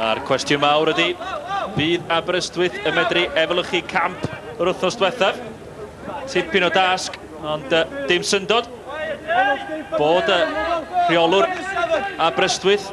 A'r cwestiwn mawr ydy, fydd Aberystwyth yn medru efelychu camp yr wythnos diwethaf? Tipyn o dasg, ond uh, dim syndod bod y rheolwr Aberystwyth,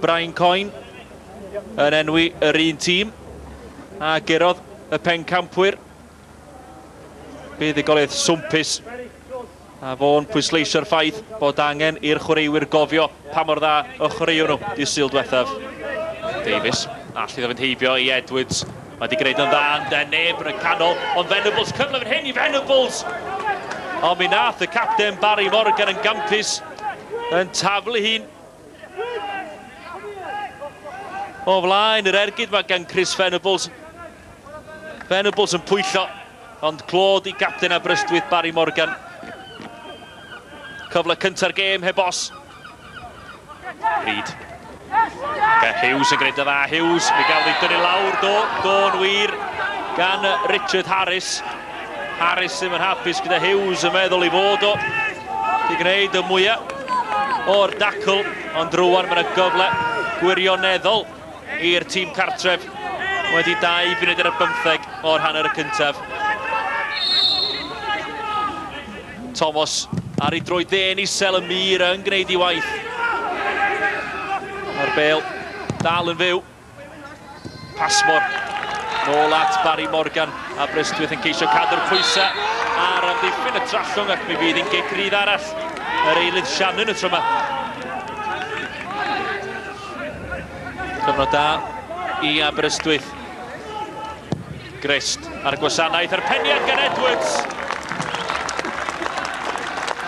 Brian Coyne, yn enwi yr un tîm a gerodd y pencampwyr buddugoliaeth swmpus A fo'n pwysleisio'r ffaith bod angen i'r chwaraewyr gofio pa mor dda y chwaraeon nhw dydd Sul diwethaf. Davies, all iddo fynd heibio i Edwards. Mae wedi gwneud yn dda yn de neb yn y canol, ond Venables, cyfle fan hyn i Venables! Ond mi nath y capten Barry Morgan yn gampus yn taflu hi'n O flaen yr ergyd mae gan Chris Venables. Venables yn pwyllo, ond clod i gapten Aberystwyth Barry Morgan. Cyfle cynta'r gêm heb os. Reid. Ga Hughes yn gwneud y dda. Hughes, mi gafodd ei dynnu lawr. Do, do'n wir gan Richard Harris. Harris ddim yn hapus gyda Hughes yn meddwl i fod o. Di gwneud y mwyaf o'r dacl, ond rwan mae'n y gyfle gwirioneddol i'r tîm cartref wedi dau funud ar y bymtheg o'r hanner y cyntaf. Thomas ar ei droi dde'n isel y mur yn gwneud ei waith. Mae'r bel dal yn fyw. Passmore. Nôl at Barry Morgan a Brystwyth yn ceisio cadw'r pwysau ar amddiffyn y trallwng ac mi fydd hi'n gic rydd arall yr eilydd Shannon y tro yma. Cyfnod da i Aberystwyth. Grist ar y gwasanaeth, a'r peniad gan Edwards!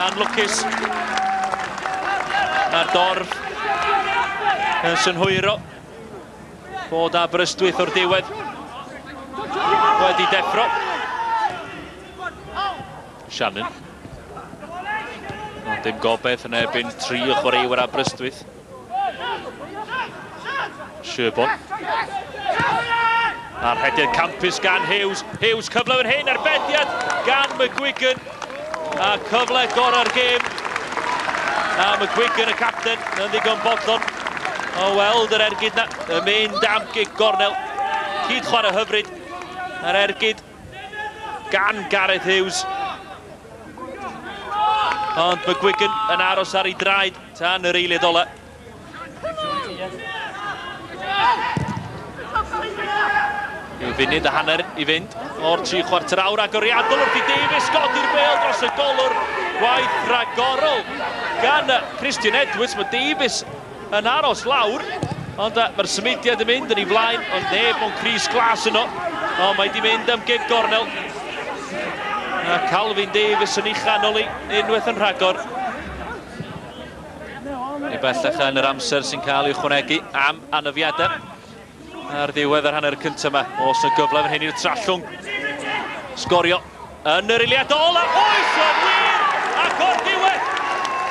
A'n lwcus na dorf yn synhwyro bod Aberystwyth o'r diwedd wedi deffro. Shannon. Ond dim gobeith yn ebyn tri o chwaraewyr Aberystwyth. Sherborne. A'r hedydd campus gan Hughes. Hughes cyfle fan hyn, arbediad gan McGuigan. A cyfle gorau'r gêm. A McGuigan y capten yn ddigon bodlon o weld yr ergyd na. Y mynd am gig gornel. Cyd chwarae hyfryd. Yr ergyd gan Gareth Hughes. Ond McGuigan yn aros ar ei draed. Tan yr eiliad ola. Yw funud a hanner i fynd o'r tri chwarter awr agoriadol wrth i Davies godi'r bel dros y golwr. Gwaith rhagorol gan Christian Edwards. Mae Davies yn aros lawr, ond mae'r symudiad yn mynd yn ei flaen, ond neb mewn Cris Glas yno. O, mae di mynd am gig gornel. A Calvin Davies yn ei chanol i, unwaith yn rhagor. Ni bellach yn yr amser sy'n cael ei ychwanegu am anafiadau. Ar ddiwedd yr hanner cyntaf yma, os y gyfle fan hyn i'r trallwng. Sgorio yn yr eiliad ola. Oes o'n wir! Ac o'r diwedd,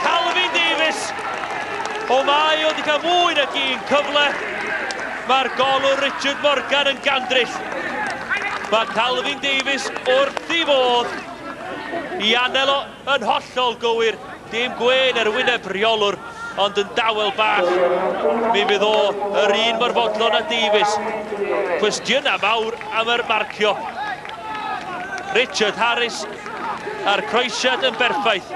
Calvin Davies. O mae o wedi cael mwy nag un cyfle. Mae'r golwr Richard Morgan yn gandrill. Mae Calvin Davies wrth ei fodd i anelo Yn hollol gywir, dim gwên ar wyneb rheolwr, ond yn dawel bach. Mi fydd o yr un mor fodlon â Davies. Cwestiynau mawr am yr marcio. Richard Harris a'r croesiad yn berffaith.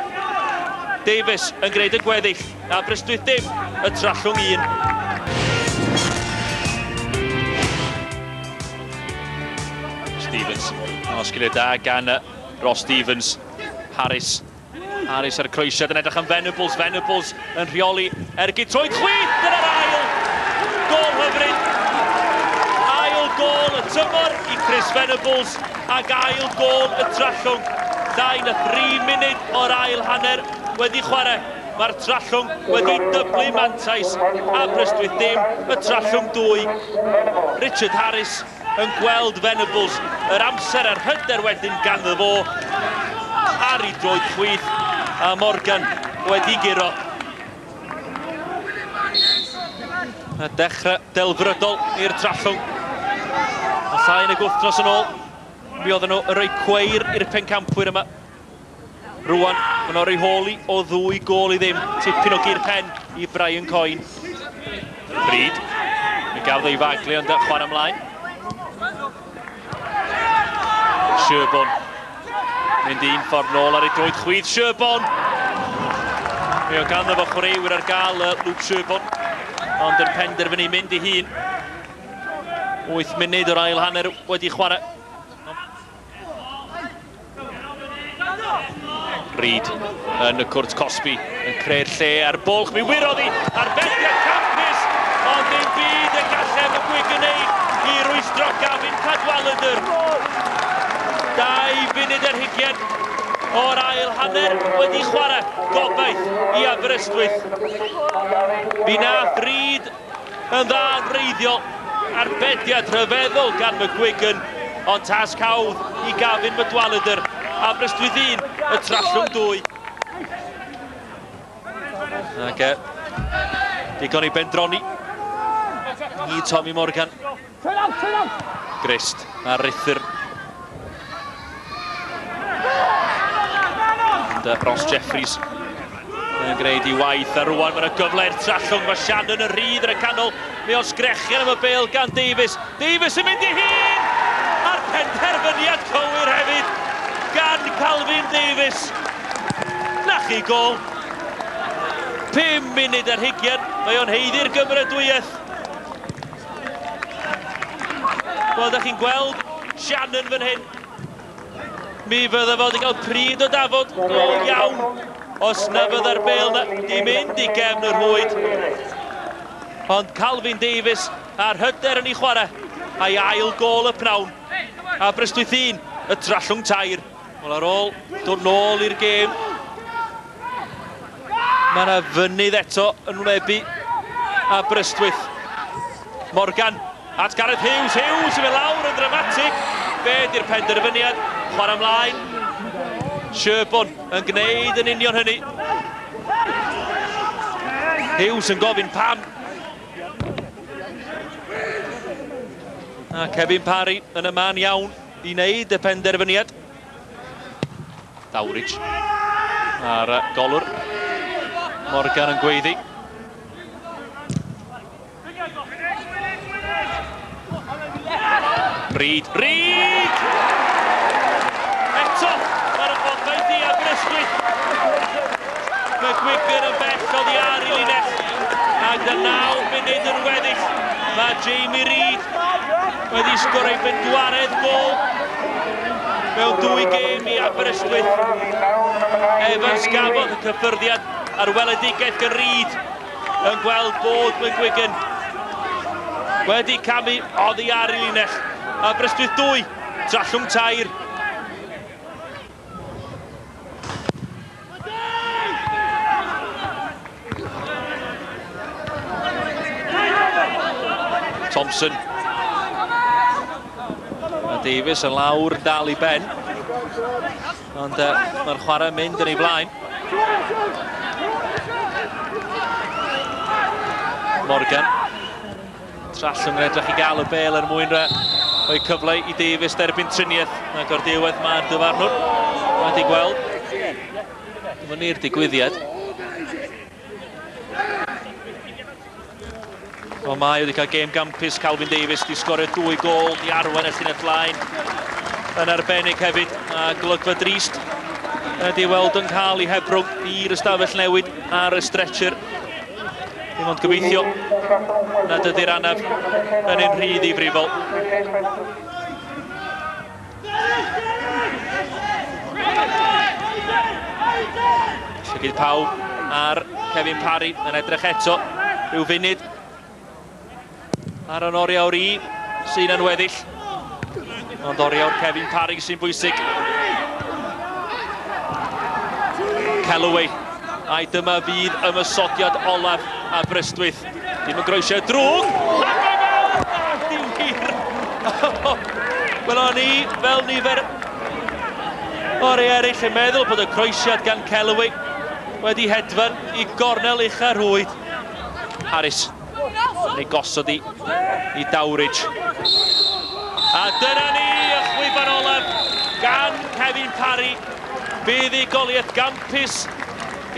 Davies yn gwneud y gweddill, Aberystwyth dim, y Trallwng un. Stevens. Osgiliad da gan Ross Stevens. Harris. Harris ar y croesiad yn edrych am Venables. Venables yn rheoli ergyd troed chwith. Dyna'r ail gol hyfryd. Ail gol y tymor i Chris Venables ac ail gol y trallwng. 23 munud o'r ail hanner wedi chwarae. Mae'r trallwng wedi dyblu mantais Aberystwyth dim, y trallwng dwy. Richard Harris yn gweld Venables yr amser a'r hyder wedyn ganddo fo ar ei droed chwith a Morgan wedi guro. A dechrau delfrydol i'r Trallwng. A llai nag wythnos yn ôl, mi oedden nhw yn rhoi cweir i'r pencampwyr yma. Rwan, mae'n orau holi o ddwy gol i ddim. Tipyn o gyr pen i Brian Coen. Bryd. Mi gafodd ei faglu ond chwan ymlaen. Sherborn. Mynd un ffordd nôl ar ei droed chwyd. Sherborn! Mi o ganddo fo chwaraewyr ar gael y Luke Sherborn. Ond yn penderfynu mynd i hun. 8 munud o'r ail hanner wedi chwarae. Reid yn y cwrt cosbi yn creu'r lle a'r bwlch. Mi wyrodd i ar fethiad campus, ond dim byd y gallem y gwig gwneud i rwystro Gavin Cadwaladr. Dau funud ar hugen o'r ail hanner wedi chwarae gobaith i Aberystwyth. Mi nath Reid Yn dda yn wreiddiol, arbediad rhyfeddol gan McGuigan, ond tasg hawdd i Gavin Madwalladr, Aberystwyth 1, y Trallwng 2. Ac e, digon i bendroni i Tommy Morgan. Trwy'n awt, trwy'n awt! Grist a rhithir. Ond uh, Ross Jeffries yn gwneud i waith a rwan mae'n gyfle i'r trallwng. Mae Shannon yn rhydd yn y canol. Mae o'n sgrechian am y bel gan Davies. Davies yn mynd i hun! A'r penderfyniad cywir hefyd gan Calvin Davies. Na chi gol. 5 munud ar hugian. Mae o'n heiddi'r gymeradwyaeth. Wel, da chi'n gweld Shannon fan hyn. Mi fydda fod i gael pryd o dafod go iawn os na fydda'r bel na di mynd i gefn yr hwyd. Ond Calvin Davies a'r hyder yn ei chwarae a'i ail gol y pnawn. Aberystwyth 1, y Trallwng tair. Wel ar ôl dod nôl i'r gêm, mae yna fynydd eto yn wnebu a Brystwyth. Morgan at Gareth Hughes, Hughes sy'n mynd lawr yn dramatig. Be di'r penderfyniad? Chwarae ymlaen. Sherborne yn gwneud yn union hynny. Hughes yn gofyn pam. A Kevin Parry yn y man iawn. i wneud y penderfyniad. Dawridge ar golwr. Morgan yn gweiddi. Reid, Reid! Eto, ar y bodau di a Greswyd. Mae Gwigr yn bell o ddi ar i linell. Ac y naw munud yn weddill, mae Jamie Reid Mae wedi sgor ei bedwaredd gol mewn dwy gêm i Aberystwyth. Evans gafodd y cyffyrddiad ar weledigaeth gan Reid yn gweld bod McGuigan wedi camu oddi ar ei linell. Aberystwyth 2, Trallwng 3. Thompson. A Davies yn lawr yn dal i ben. Ond uh, mae'r chwarae mynd yn ei flaen. Morgan. Trallwng yn edrych i gael y bel er mwyn rhoi cyfle i Davies derbyn triniaeth. Ac o'r diwedd mae'r dyfarnwr wedi gweld fyny'r digwyddiad. O mae wedi cael gêm gampus Calvin Davies wedi sgorio dwy gol i arwain y llinell flaen yn arbennig hefyd a golygfa drist ydy weld yn cael ei hebrwng i'r ystafell newid ar y stretcher Dim ond gobeithio nad ydy'r anaf yn ein rhydd i frifol. Llygyd pawb ar Kevin Parry yn edrych eto. Rhyw funud Ar yn oriawr i sy'n yn weddill. Ond oriawr Kevin Parry sy'n bwysig. Calloway. Ai dyma fydd ymysodiad olaf a Brystwyth. Dim yn groesiau drwg. Wel o'n i fel nifer o'r ei eraill yn meddwl bod y croesiad gan Calloway wedi hedfan i gornel ucha rhwyd. Harris. Neu gosod i, i Dowridge. A dyna ni y chwiban olaf gan Kevin Parry. Buddigoliaeth gampus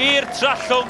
i'r Trallwng.